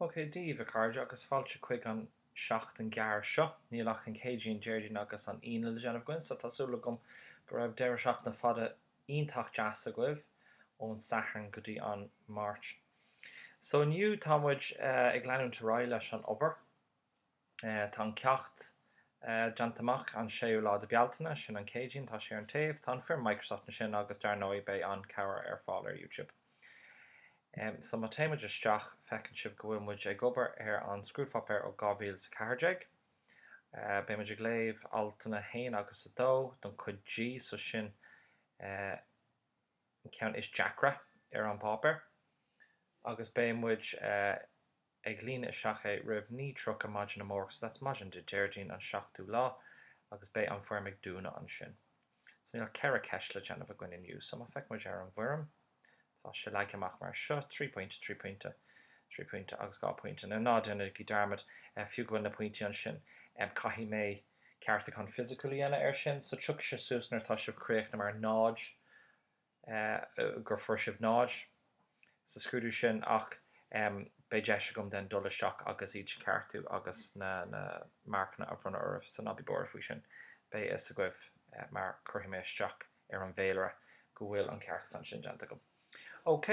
OK, daoibh, a chairde, agus fáilte chuig an seachtain ghearr seo. Níl ach an Céadaoin, Déardaoin agus an Aoine le déanamh againn, so tá súil agam go raibh deireadh seachtaine fada iontach deas agaibh ón Satharn go dtí an Máirt. So inniu, tá muid ag leanúint ar aghaidh leis an obair. Tá an ceacht déanta amach an 6ú lá de Bealtaine, sin an Céadaoin, tá sé ar an taobh, tá an foirm Microsoft ansin agus dar ndóigh beidh an cabhair ar fáil ar YouTube. So má téimid isteach feiceann sibh go bhfuil muid ag obair ar an scrúdpháipéar ó 2014. Beidh muid ag léamh altanna 1 agus 2 don cuid G, so sin an ceann is deacra ar an bpáipéar agus beidh muid. ag líonadh isteach é roimh 9:30 maidin amárach, so that's maidin Dé Déardaoin an seachtú lá agus beidh an foirm ag dúnadh ansin. So níl ceithre ceist le déanamh againn inniu, so má feic muid ar an bhfoirm, tá sé leagtha amach mar seo, trí pointe, trí pointe, trí pointe agus dhá pointe. Now ná déanaigí dearmad, fiú go bhfuil na pointí ansin, caithfidh mé ceartúchán fisiciúil a dhéanamh ar sin, so tiocfaidh sé suas nuair atá sibh críochnaithe mar 0, gur fuair sibh 0 sa scrúdú sin ach beidh deis agam then dul isteach agus iad a cheartú agus na marcanna a bhronnadh oraibh so ná bí buartha faoi sin. Beidh a fhios agaibh mar cuirfidh mé isteach ar an bhféilire go bhfuil an ceartúchán sin déanta agam. OK.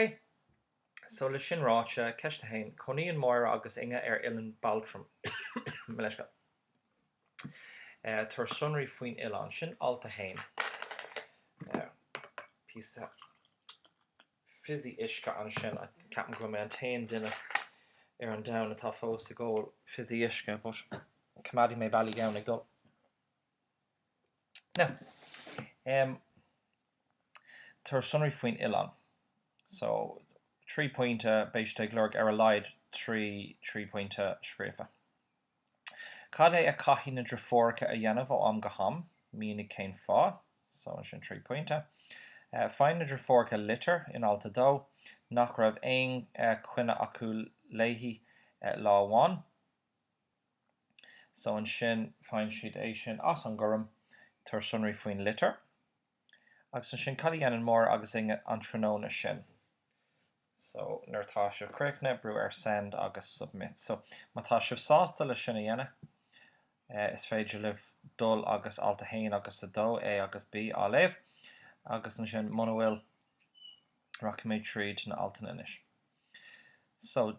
So le sin ráite, Ceist 1, Cónaíonn Moira agus Inge ar Oileán Baltrum. Mo leithscéal. Eh, tabhair sonraí faoin oileán. Sin alt 1. Eh, píosa fizzy uisce ansin. Ceapaim gur mé an t-aon duine ar an domhan atá fós ag ól fizzy uisce, but coimeádfaidh mé Ballygowan ag dul. Tabhair sonraí faoin oileán. So trí pointe, beidh siad ag lorg ar a laghad trí trí pointe scríofa. Cad é a chaithfidh na deirfiúracha a dhéanamh ó am go ham? Mínigh cén fáth. So ansin trí pointe. Faigheann na deirfiúracha litir, in alt 2, nach raibh aon choinne acu léi lá amháin. So ansin faigheann siad é sin as an gorm, tabhair sonraí faoin litir. Agus ansin cad a dhéanann Moira agus Inge an tráthnóna sin? So nuair atá sibh críochnaithe, brúigh ar send agus submit. So má tá sibh sásta le sin a dhéanamh, is féidir libh dul agus alt 1 agus 2, A agus B, a léamh. Agus ansin muna bhfuil, rachaimid tríd na altanna anois. So.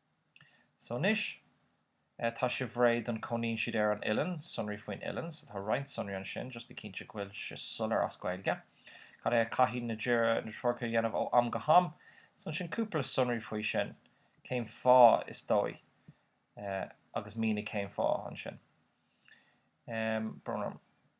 So anois, eh, tá sibh réidh don cónaíonn siad ar an oileán, sonraí faoin oileán, so tá roinnt sonraí ansin, just bí cinnte go bhfuil sé soiléir as Gaeilge. Cad a chaithfidh na deirfiúracha a dhéanamh ó am go ham, so ansin cúpla sonraí faoi sin, cén fáth, is dóigh, eh, agus mínigh cén fáth ansin. Em, brum, brum.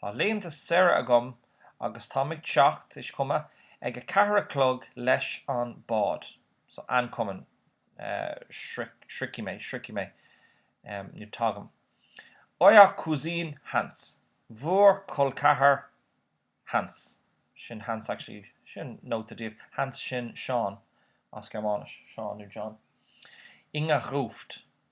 Tá laethanta saoire agam agus táim ag teacht ich komme ag a ceathair a chlog leis an bád. So ankommen sroichfidh mé, sroichfidh mé, nó tagaim. Euer Cousin Hans, bhur gcol ceathar Hans, sin Hans actually, sin nóta daoibh, Hans sin Seán as Gearmáinis, Seán nó John, Inga ruft,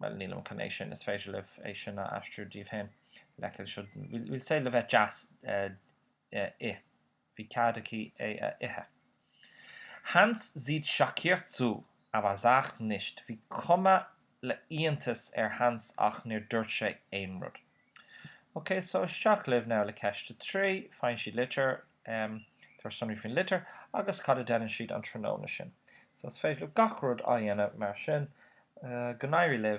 bhuel, nílim chun é sin, is féidir libh é sin a aistriú daoibh féin, lecker, seo, we'll say le bheith deas, ith, bhí cead aici é a ithe. Hans sieht schockiert zu, aber sagt nichts, bhí cuma le iontas ar Hans ach níor dúirt sé aon rud. Ok, so isteach libh now le ceist a trí, faigheann siad litir, amh, tabhair sonraí faoin litir agus cad a dhéanann siad an tráthnóna sin. So is féidir libh gach rud a dhéanamh mar sin. Go n-éirí libh.